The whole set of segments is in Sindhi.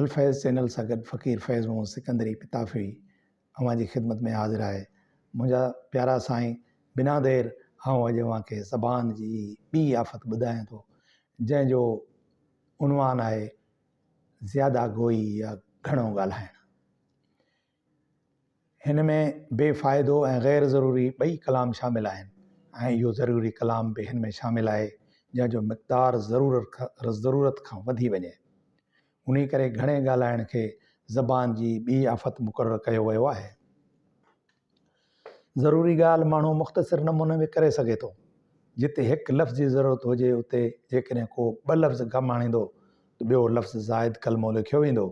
الفيض چينل سان گڏ فقير فيض محمد سڪندري پتافي اوهان جي خدمت ۾ حاضر آهي منهنجا پيارا سائين بنا دير آئون اڄ اوهان کي زبان جي ٻي آفت ٻڌايان ٿو جنهن جو عنوان آهي زياده گوئي يا گهڻو ڳالهائڻ هن ۾ بي فائدو ۽ غير ضروري ٻئي ڪلام شامل آهن ۽ اهو ضروري ڪلام به هن ۾ شامل آهي جنهن جو مقدار ضرورت کان وڌي وڃي. انهي ڪري گهڻي ڳالهائڻ کي زبان جي ٻي آفت مقرر ڪيو ويو آهي. ضروري ڳالهه ماڻهو مختصر نموني ۾ ڪري سگهي ٿو. جتي هڪ لفظ جي ضرورت هجي اتي جيڪڏهن ڪو ٻه لفظ ڪم آڻيندو ته ٻيو لفظ زائد ڪلمو لکيو ويندو.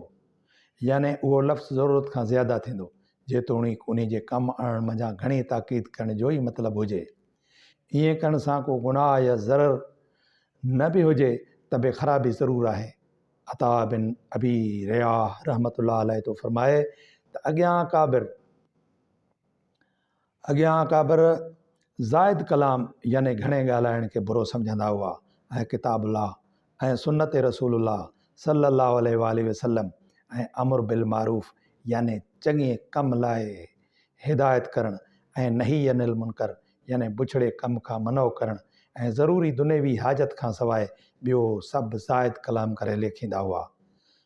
يعني اهو لفظ ضرورت کان زياده ٿيندو، جيتوڻيڪ انهي جي ڪم آڻڻ منجهان گهڻي تاڪيد ڪرڻ جو ئي مطلب هجي. ائين ڪرڻ سان ڪو گناهه يا ضرر نه به هجي ته به خرابي ضرور آهي. عطاء بن ابي رياح رحمة الله عليه ٿو فرمائي ته اڳيان اڪابر، اڳيان اڪابر زائد ڪلام يعني گهڻي ڳالهائڻ کي برو سمجهندا هئا ۽ ڪتاب الله ۽ سنت رسول الله صلي الله عليه واٰله وسلم ۽ امر بالمعروف يعني چڱي ڪم لاء هدايت ڪرڻ ۽ نهي عن المنڪر يعني بڇڙي ڪم کان منع ڪرڻ ۽ ضروري دنيوي حاجت کان سواء ٻيو سڀ زائد ڪلام ڪري ليکيندا هئا.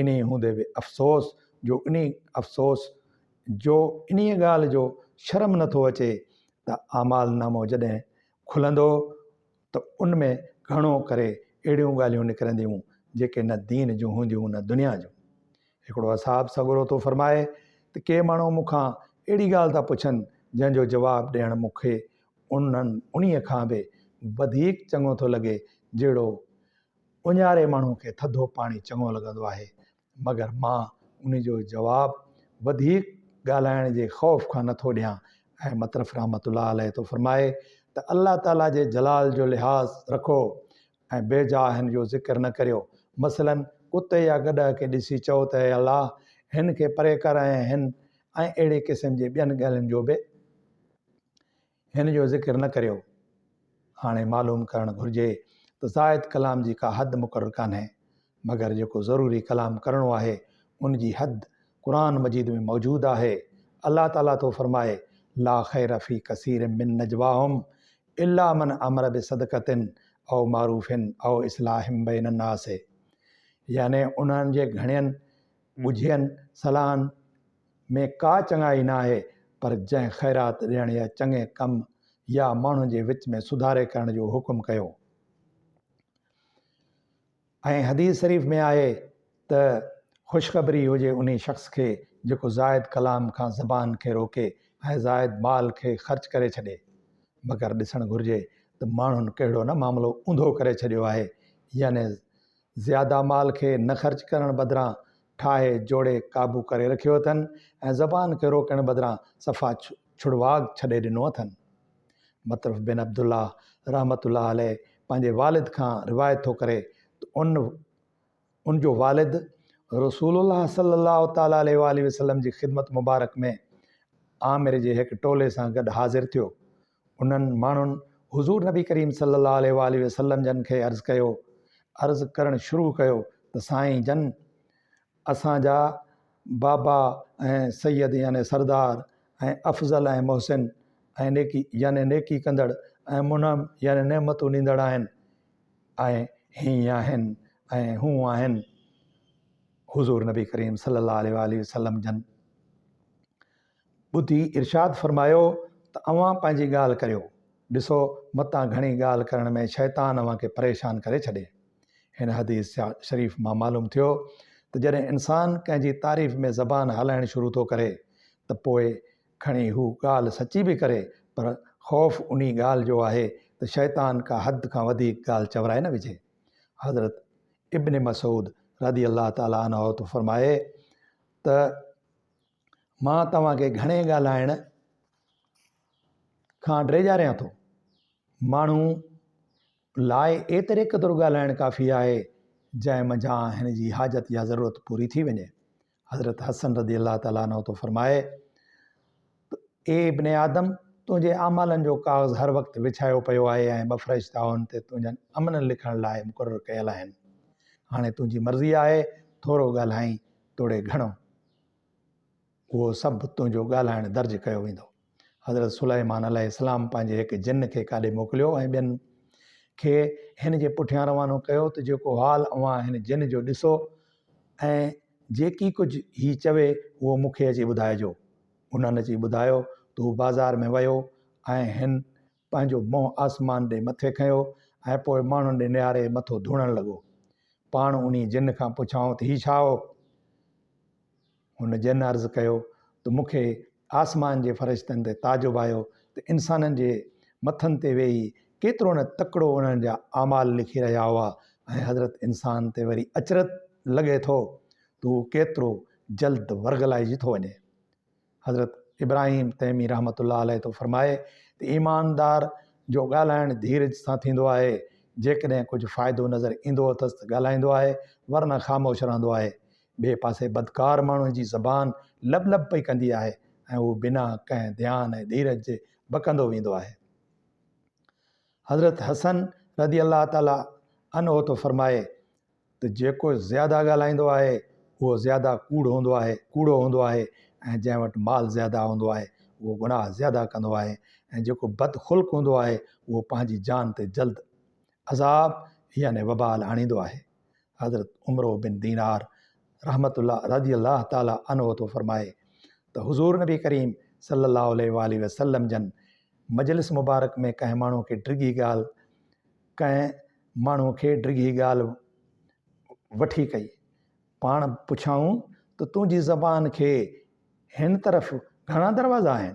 انهيء هوندي به افسوس جو انهيء افسوس جو انهيء ڳالهه جو شرم نه ٿو اچي ته اعمال نامو جڏهن کلندو ته ان ۾ گهڻو ڪري اهڙيون ڳالهيون نڪرنديون جيڪي نه دين جون هونديون نه دنيا جون. هڪڙو اصحاب سڳورو ٿو فرمائي ته ڪي ماڻهو مون کان اهڙي ڳالهه ٿا پڇن جنهن جو جواب ڏيڻ مون کي انهن انهيء کان به وڌيڪ چڱو ٿو لڳي جهڙو اونهاري ماڻهوء کي ٿڌو پاڻي چڱو لڳندو آهي، مگر مان ان جو جواب وڌيڪ ڳالهائڻ جي خوف کان نه ٿو ڏيان ۽ مطرف رحمة الله عليه ٿو فرمائي ته الله تعاليٰ جي جلال جو لحاظ رکو ۽ بي جا هن جو ذڪر نه ڪريو مثلاً ڪتي يا گڏهه کي ڏسي چئو ته اي الله هن کي پري ڪر ۽ هن ۽ اهڙي قسم جي ٻين ڳالهين جو به هن جو ذڪر نه ڪريو. هاڻي معلوم ڪرڻ گهرجي ته زائد ڪلام جي ڪا حد مقرر ڪانهي، مگر جيڪو ضروري ڪلام ڪرڻو آهي، ان جي حد قرآن مجيد ۾ موجود آهي. الله تعاليٰ ٿو فرمائي، لا خير في ڪثير من نجواهم الا من امر بصدقة او معروف او اصلاح بين الناس يعني انهن جي گهڻين ڳجهين صلاحن، ۾ ڪا چڱائي ناهي پر جنهن خيرات ڏيڻ يا چڱي ڪم يا ماڻهن جي وچ ۾ سڌاري ڪرڻ جو حڪم ڪيو ۽ حديث شريف ۾ آهي ته خوشخبري هجي انهي شخص کي جيڪو زائد ڪلام کان زبان کي روڪي ۽ زائد مال کي خرچ ڪري ڇڏي مگر ڏسڻ گهرجي ته ماڻهن ڪهڙو نه معاملو اونڌو ڪري ڇڏيو آهي يعني زياده مال کي نه خرچ ڪرڻ بدران ٺاهي جوڙي قابو ڪري رکيو اٿن ۽ زبان کي روڪڻ بدران صفا ڇڙواڳ ڇڏي ڏنو اٿن. مطرف بن عبدالله رحمة الله عليه پنهنجي والد کان روايت ٿو ڪري ته ان ان جو والد رسول الله صلي الله تعالٰي عليه واٰله وسلم جي خدمت مبارڪ ۾ عامر جي هڪ ٽولي سان گڏ حاضر ٿيو انهن ماڻهن حضور نبي ڪريم صلي الله عليه واٰله وسلم جن کي عرض ڪيو، عرض ڪرڻ شروع ڪيو ته سائين جن! اسان جا بابا ۽ سيد يعني سردار ۽ افضل ۽ محسن ۽ نيڪي يعني نيڪي ڪندڙ ۽ منعم يعني نعمتون ڏيندڙ آهن ۽ هيئن آهن ۽ هون آهن. حضور نبي ڪريم صلي الله عليه واٰله وسلم جن! ٻڌي ارشاد فرمايو ته اوهان پنهنجي ڳالهه ڪريو، ڏسو متان گهڻي ڳالهه ڪرڻ ۾ شيطان اوهان کي پريشان ڪري ڇڏي. هن حديث شريف مان معلوم ٿيو ته جڏهن انسان ڪنهن جي تعريف ۾ زبان هلائڻ شروع ٿو ڪري ته پوء کڻي هو ڳالهه سچي به ڪري پر خوف انهي ڳالهه جو آهي ته شيطان ڪا حد کان وڌيڪ ڳالهه چورائي نه وجهي. حضرت ابن مسعود رضي الله تعالٰي عنه ٿو فرمائي ته، مان توهان کي گهڻي ڳالهائڻ کان ڊيڄاريان ٿو. ماڻهو لاء ايتري قدر ڳالهائڻ ڪافي آهي، جنهن منجهان هن جي حاجت يا ضرورت پوري ٿي وڃي. حضرت حسن رضي الله تعالٰي عنه ٿو فرمائي ته اي ابن آدم! تنهنجي اعمالن جو ڪاغذ هر وقت وڇايو پيو آهي ۽ ٻه فرشتا ان تي تنهنجن عملن لکڻ لاء مقرر ڪيل آهن. هاڻي تنهنجي مرضي آهي، ٿورو ڳالهائين توڙي گهڻو. اهو سڀ تنهنجو ڳالهائڻ درج ڪيو ويندو. حضرت سليمان عليه السلام پنهنجي هڪ جن کي ڪاڏي موڪليو ۽ ٻين کي هن جي پٺيان روانو ڪيو ته جيڪو حال اوهان هن جن جو ڏسو ۽ جيڪي ڪجهه هي چوي اهو مون کي اچي ٻڌائجو. انهن اچي ٻڌايو ته هو بازار ۾ ويو ۽ هن پنهنجو منهن آسمان ڏي مٿي کنيو ۽ پوء ماڻهن ڏي نهاري مٿو ڌوڻڻ لڳو. پاڻ انهي جن کان پڇيائون ته هي ڇا هو؟ هن جن عرض ڪيو ته مون کي آسمان جي فرشتن تي تعجب آيو ته انسانن جي مٿن تي ويهي ڪيترو نه تڪڙو انهن جا اعمال لکي رهيا هئا ۽ حضرت انسان تي وري اچرج لڳي ٿو ته هو ڪيترو جلد ورغلائجي ٿو وڃي. حضرت ابراهيم تيمي رحمة الله عليه ٿو فرمائي ته ايماندار جو ڳالهائڻ ڌيرج سان ٿيندو آهي، جيڪڏهن ڪجهه فائدو نظر ايندو اٿس ته ڳالهائيندو آهي ورنه خاموش رهندو آهي. ٻئي پاسي بدڪار ماڻهوء جي زبان لب لب پئي ڪندي آهي ۽ هو بنا ڪنهن ڌيان ۽ ڌيرج جي بڪندو ويندو آهي. حضرت حسن رضي الله تعالٰي عنه ٿو فرمائي ته جيڪو زياده ڳالهائيندو آهي اهو زياده ڪوڙ هوندو آهي ڪوڙو هوندو آهي ۽ جنهن وٽ مال زياده هوندو آهي اهو گناهه زياده ڪندو آهي ۽ جيڪو بد خلق هوندو آهي اهو پنهنجي جان تي جلد عذاب يعني وبال آڻيندو آهي حضرت عمرو بن دينار رحمت الله رضي الله تعالٰي عنه ٿو فرمائي ته حضور نبي ڪريم صلي الله عليه وآله وسلم جن مجلس مبارڪ ۾ ڪنهن ماڻهو کي ڊگهي ڳالهه ڪنهن ماڻهوء کي ڊگهي ڳالهه وٺي ڪئي. پاڻ پڇيائون ته تنهنجي زبان کي هن طرف گهڻا دروازا آهن؟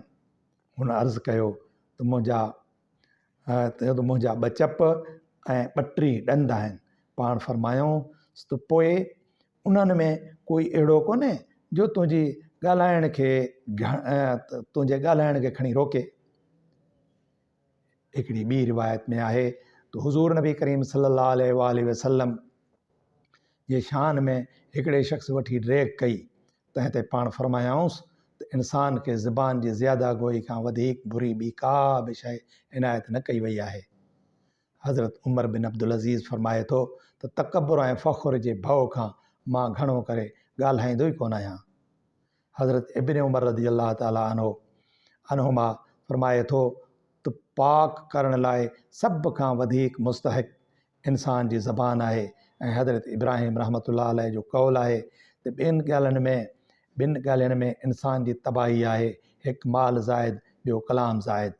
هن عرض ڪيو ته منهنجا ته منهنجا ٻه چپ ۽ ٻه ٽي ڏند آهن. پاڻ فرمايائون ته پوء انهن ۾ ڪوئي اهڙو ڪونهي جو تنهنجي ڳالهائڻ کي تنهنجي ڳالهائڻ کي کڻي روڪي. هڪڙي ٻي روايت ۾ آهي ته حضور نبي ڪريم صلي الله عليه واله وسلم جي شان ۾ هڪڙي شخص وٺي ڊريڪ ڪئي تنهن تي پاڻ فرمايائونس ته انسان کي زبان جي زياده گوئي کان وڌيڪ بري ٻي ڪا به شيء عنايت نه ڪئي وئي آهي حضرت عمر بن عبدالعزيز فرمائي ٿو ته تڪبر ۽ فخر جي ڀؤ کان مان گهڻو ڪري ڳالهائيندو ئي ڪونه آهيان حضرت ابن عمر رضي الله تعالٰي عنه عنهما فرمائي ٿو ته پاڪ ڪرڻ لاء سڀ کان وڌيڪ مستحق انسان جي زبان آهي ۽ حضرت ابراهيم رحمة الله عليه جو قول آهي ته ٻين ڳالهين ۾ ٻن ڳالهين ۾ انسان جي تباهي آهي هڪ مال زائد ٻيو ڪلام زائد